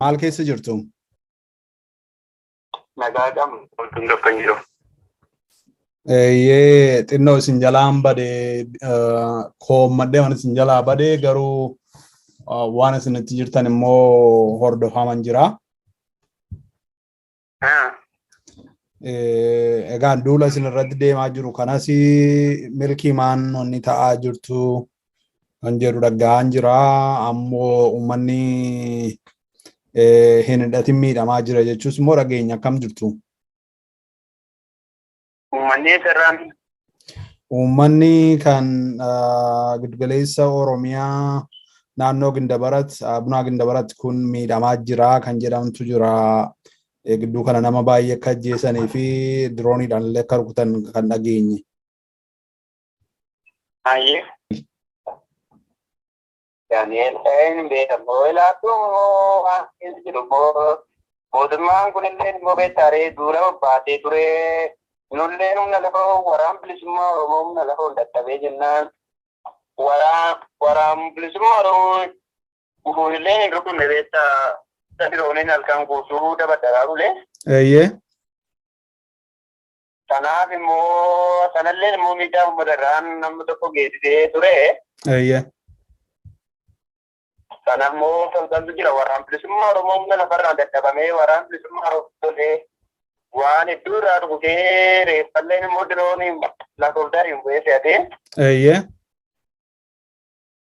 Maal keessa jirtu? Nagaa qabna. Wantoonni tokko hin jiru. Eeyyee xinnoo isin jalaan bade koommadhee waan isin jalaa bade garuu waan isin itti jirtan immoo hordofaman jira. Egaan duula isin irratti deemaa jiru kanas milkii maan onni ta'aa jirtu kan jedhu dhaga'aan jira. Ammoo uummanni hin hidhatin miidhamaa jira jechuus immoo dhageenya akkam jirtu? Uummanni eessarraan? Uummanni kan giddugaleessa Oromiyaa naannoo Gindabarat, Abunaa Gindabarat kun miidhamaa jira kan jedhamtu jira. Gidduu kana nama baay'ee akka ajjeesanii fi dirooniidhaan illee akka rukutan kan dhageenye. Baay'ee. Daani'eel ta'ee hin beekamu. Ilaattuu immoo waan keessa jiru immoo mootummaan kunillee immoo beektaaree duula bobbaatee ture. Nullee humna lafa waraan bilisummaa Oromoo humna lafa ol dadhabee jennaan waraan waraan bilisummaa Oromoo gufuunillee hin rukunne beektaa sadirooniin halkan guutuu dabaddaraa bulee. Eeyyee. Sanaaf immoo sanallee immoo miidhaa uummata irraan namni tokko geessisee ture. Eeyyee. Sana immoo toltantu jira waraan bilisummaa Oromoo humna lafarraa dadhabamee waraan bilisummaa Oromoo tolee waan hedduu irraa dhugutee reeffalleen immoo dirooniin lakkoofdaariin bu'ee fe'atee Eeyyee.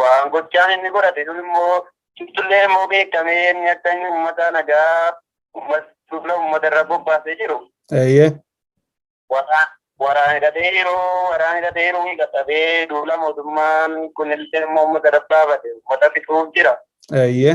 Waan gochaan inni godhate sun immoo ibsullee immoo beekamee inni akka inni uummata nagaa uummata uummata irra bobbaasee jiru. Eeyyee. Waraana hidhatee jiru waraana hidhatee jiru hidhatabee duula mootummaan kun illee immoo uummata irra baafate uummata fixuuf jira. Eeyyee.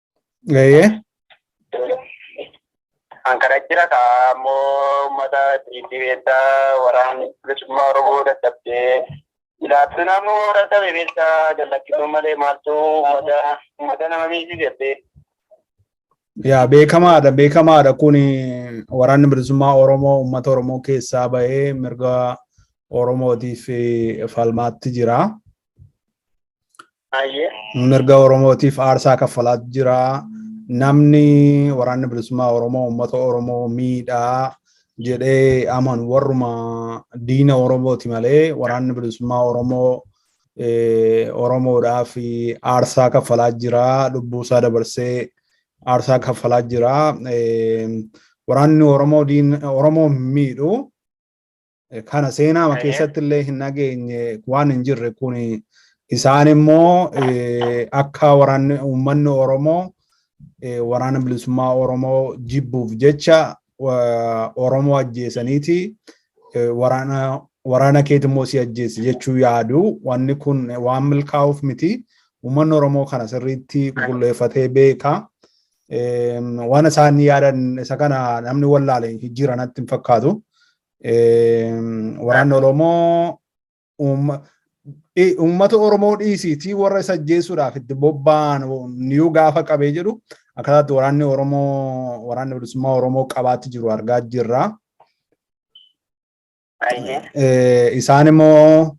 Eeyyee. Kan kana jira kaa ammoo uummata diinni beektaa waraan bilisummaa Oromoo dadhabdee ilaaltuun ammoo dadhabe beektaa jallakkisuu malee maaltu uummata uummata nama miidhisiisee. Yaa beekamaadha beekamaadha kun waraanni bilisummaa Oromoo uummata Oromoo keessaa bahee mirga Oromootiif falmaatti jira. Baay'ee. mirga Oromootiif aarsaa kaffalaa jira. Namni waraanni bilisummaa Oromoo uummata Oromoo miidhaa jedhee amanu warruma diina Oromooti malee waraanni bilisummaa Oromoo eh, Oromoodhaaf aarsaa kaffalaa jira. Lubbuusaa dabarsee aarsaa kaffalaa jira. Eh, Waraanni Oromoo diin- Oromoo hin miidhu. kana seenaama keessatti illee hin dhageenye waan hin jirre kun isaan immoo akka waraanni uummanni Oromoo waraana bilisummaa Oromoo jibbuuf jecha Oromoo ajjeesaniiti waraana waraana keeti immoo si ajjeese jechuu yaadu wanni kun waan milkaa'uuf miti uummanni Oromoo kana sirriitti qulqulleeffatee beeka Waan isaan yaadan isa kana namni wallaale jijjiira natti hin fakkaatu. Waraanni Oromoo uummata Oromoo dhiisiitii warra isa ajjeesuudhaaf itti bobba'an niyuu gaafa qabee jedhu akkataatti waraanni Oromoo waraanni bilisummaa Oromoo qabaatti jiru argaa jirra. Isaan immoo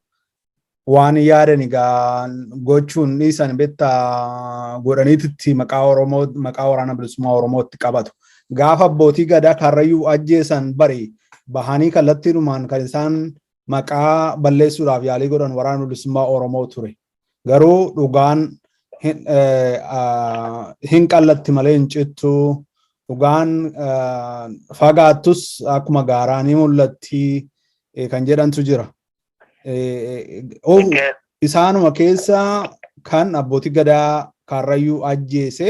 waan yaadan egaa gochuun dhiisan beektaa godhaniititti maqaa Oromoo maqaa waraana bilisummaa Oromootti qabatu. Gaafa abbootii gadaa karrayyuu ajjeesan bari bahanii kallattiidhumaan kan isaan maqaa balleessuudhaaf yaalii godhan waraana bilisummaa Oromoo ture. Garuu dhugaan hin qallatti malee hin cittu. Dhugaan fagaattus akkuma gaaraa ni mul'atti kan jedhantu jira. Isaanuma keessa kan abbootii gadaa kaarrayyuu ajjeese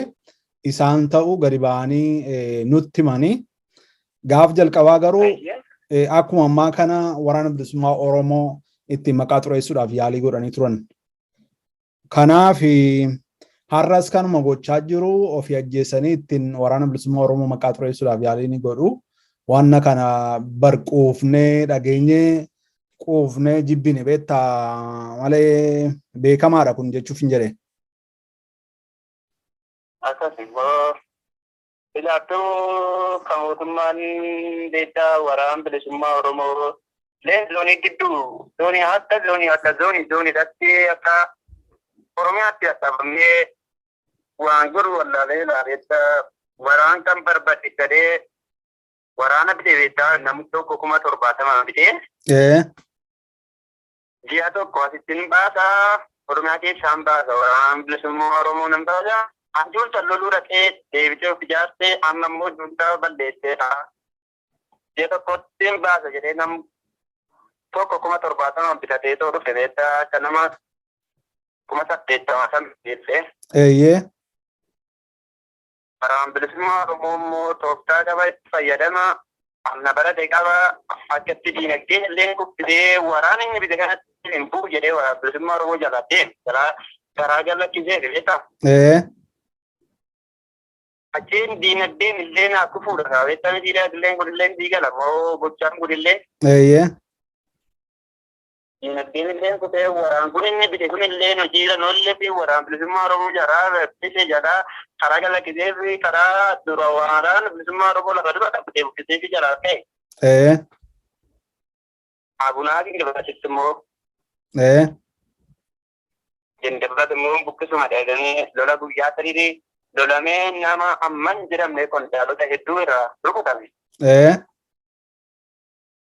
isaan ta'u gadi ba'anii nutti himanii Gaaf jalqabaa garuu akkuma ammaa kana waraana bilisummaa Oromoo ittiin maqaa xureessuudhaaf yaalii godhanii turan. Kanaaf har'as kanuma gochaa jiru ofii ajjeesanii ittiin waraana bilisummaa Oromoo maqaa xureessuudhaaf yaalii ni godhu. Wanna kana bar quufnee dhageenye quufnee jibbine beetta malee beekamaadha kun jechuuf hin jedhe. Akkasuma Ilaattuu kan mootummaan beektaa waraan bilisummaa Oromoo leen zoonii gidduu zoonii adda zoonii adda zoonii zooniidhaatti akka Oromiyaatti adhabamee waan godhu wallaalee ilaabeetta waraan kan barbade gadee waraana bitee beektaa namni tokko kuma torbaatama bitee. Ee. Ji'a tokko asitti hin baasa. Oromiyaa keessaa hin baasa. Waraanaan bilisummaa Oromoo nan baasa. Abjuun san loluu dhaqee deebitee of ijaartee amma immoo duudhaa balleessee ta'a. Ji'a tokkotti hin baasa jedhee nam tokko kuma torbaatama bitatee too dhufe beektaa akka nama kuma saddeettama san beeksee. Eeyyee. Waraanni Bilisummaa Oromoo immoo tooftaa daba itti fayyadama amna barate qaba. Akkatti diinagdee illee kuffisee waraana inni bite kanatti hin bu'u jedhee waraana bilisummaa Oromoo jalaa deeme. Jalaa garaa jallachiisee beektaa? Ee. Achiin diinagdeen illee naa kufuudha. Beektaan diinagdeen kun illee diigala moo gochaan kun illee Eeyyee. Diinagdeen illee kutee waraan kun inni bite kun illee hojiirra noollee fi waraan bilisummaa Oromoo jaraa bite jaraa karaa galakkisee fi karaa dura waraan bilisummaa Oromoo lafa dura dhabbitee buqqisee fi jaraa ta'e. Ee. Abunaa fi gabaachitti immoo. Ee. Jendabbat immoo buqqisuma dheedanii lola guyyaa sadiitii lolamee nama amman jedhamne qondaalota hedduu irraa rukutame. Ee.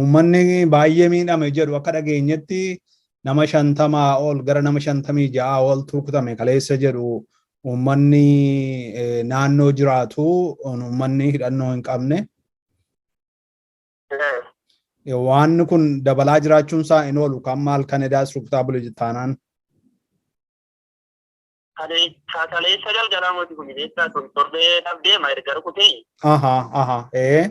Uummanni baay'ee miidhame jedhu akka dhageenyetti nama shantamaa ol gara nama shantamii ja'a ol turkutame kaleessa jedhu uummanni naannoo jiraatu uummanni hidhannoo hin qabne. Waan kun dabalaa jiraachuun isaa hin oolu kan maal kan edaas rukutaa bule taanaan. Kaleessa kaleessa galgalaa mootii kun beektaa kun torbee dhabdeema erga rukutee Aha, aha, ee.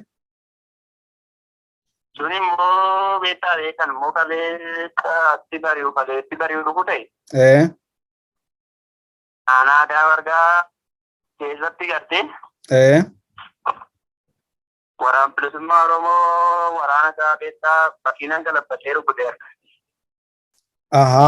sun immoo beektaa beekan immoo kaleessa itti bari'u kaleessa itti bari'u rukute Ee. aanaa aadaa wargaa keessatti gartee Ee. waraan bilisummaa Oromoo waraana isaa beektaa bakkiinan galabbatee rukute Aha.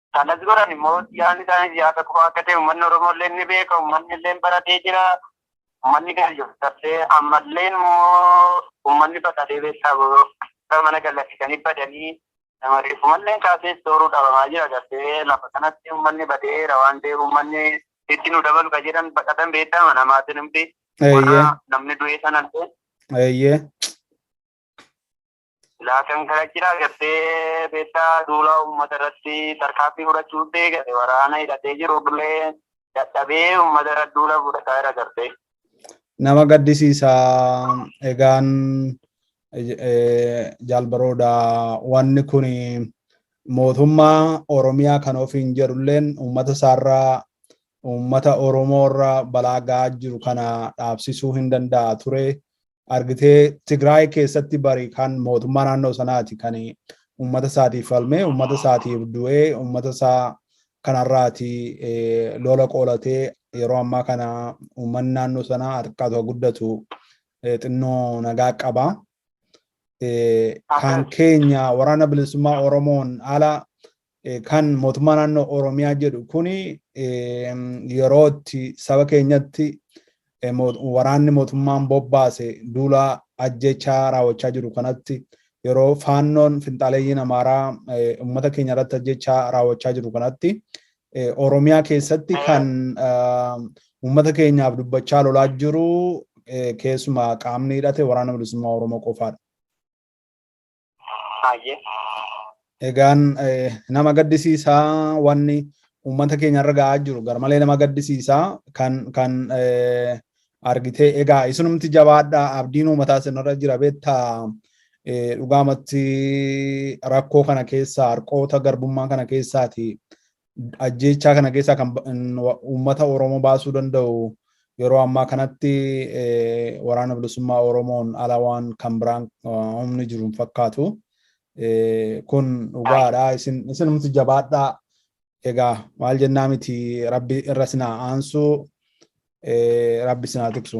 Kanas godhan immoo yaadni isaaniis yaada kufaa akka ta'e uummanni Oromoo illee ni beeka, uummanni illee baratee jira. Uummanni gaayyoon tarsee ammallee immoo uummanni baqatee beektaa boo mana gallakkisanii badanii nama reeffumallee kaasee sooruu dhabamaa jira gartee lafa kanatti uummanni badeera waan ta'eef uummanni itti nu dabalu ka jedhan baqatan beektaa mana maatiin hundi warra namni du'ee sanallee. Eeyyee. Silaa kan kana jira gartee beektaa duula uummata irratti tarkaanfii fudhachuu deegate waraana hidhatee jiru illee dadhabee uummata irra duula fudhataa jira gartee. Nama gaddisiisa egaan jaalbarooda wanni kun mootummaa Oromiyaa kan ofiin jedhulleen uummata isaarraa uummata Oromoorra balaa ga'aa jiru kana dhaabsisuu hin danda'a ture. argitee Tigraay keessatti bari kan mootummaa naannoo sanaati kan uummata isaatiif falmee uummata isaatiif du'ee uummata isaa kanarraati lola qoolatee yeroo ammaa kana uummanni naannoo sanaa harkaa tokko guddatu xinnoo nagaa qaba. Kan keenya waraana bilisummaa Oromoon ala kan mootummaa naannoo Oromiyaa jedhu kuni yeroo itti saba keenyatti waraanni mootummaan bobbaase duula ajjechaa raawwachaa jiru kanatti yeroo faannoon finxaaleeyyiin amaaraa uummata keenya irratti ajjechaa raawwachaa jiru kanatti Oromiyaa keessatti kan uummata keenyaaf dubbachaa lolaa jiru keessumaa qaamni hidhate waraana bilisummaa Oromoo qofaadha. Hayyee. Egaan nama gaddisiisaa wanni uummata keenya irra ga'aa jiru garmalee nama gaddisiisaa kan kan argitee egaa isinumti jabaadhaa abdiin uummataa isinirra jira beektaa dhugaamatti rakkoo kana keessaa harqoota garbummaa kana keessaati ajjeechaa kana keessaa kan uummata Oromoo baasuu danda'u yeroo ammaa kanatti waraana bilisummaa Oromoon ala waan kan biraan humni jiru hin fakkaatu. Kun dhugaadha. Isinumti jabaadhaa. Egaa maal jennaa miti rabbi irra sinaa aansu rabbi sinaa tiksu.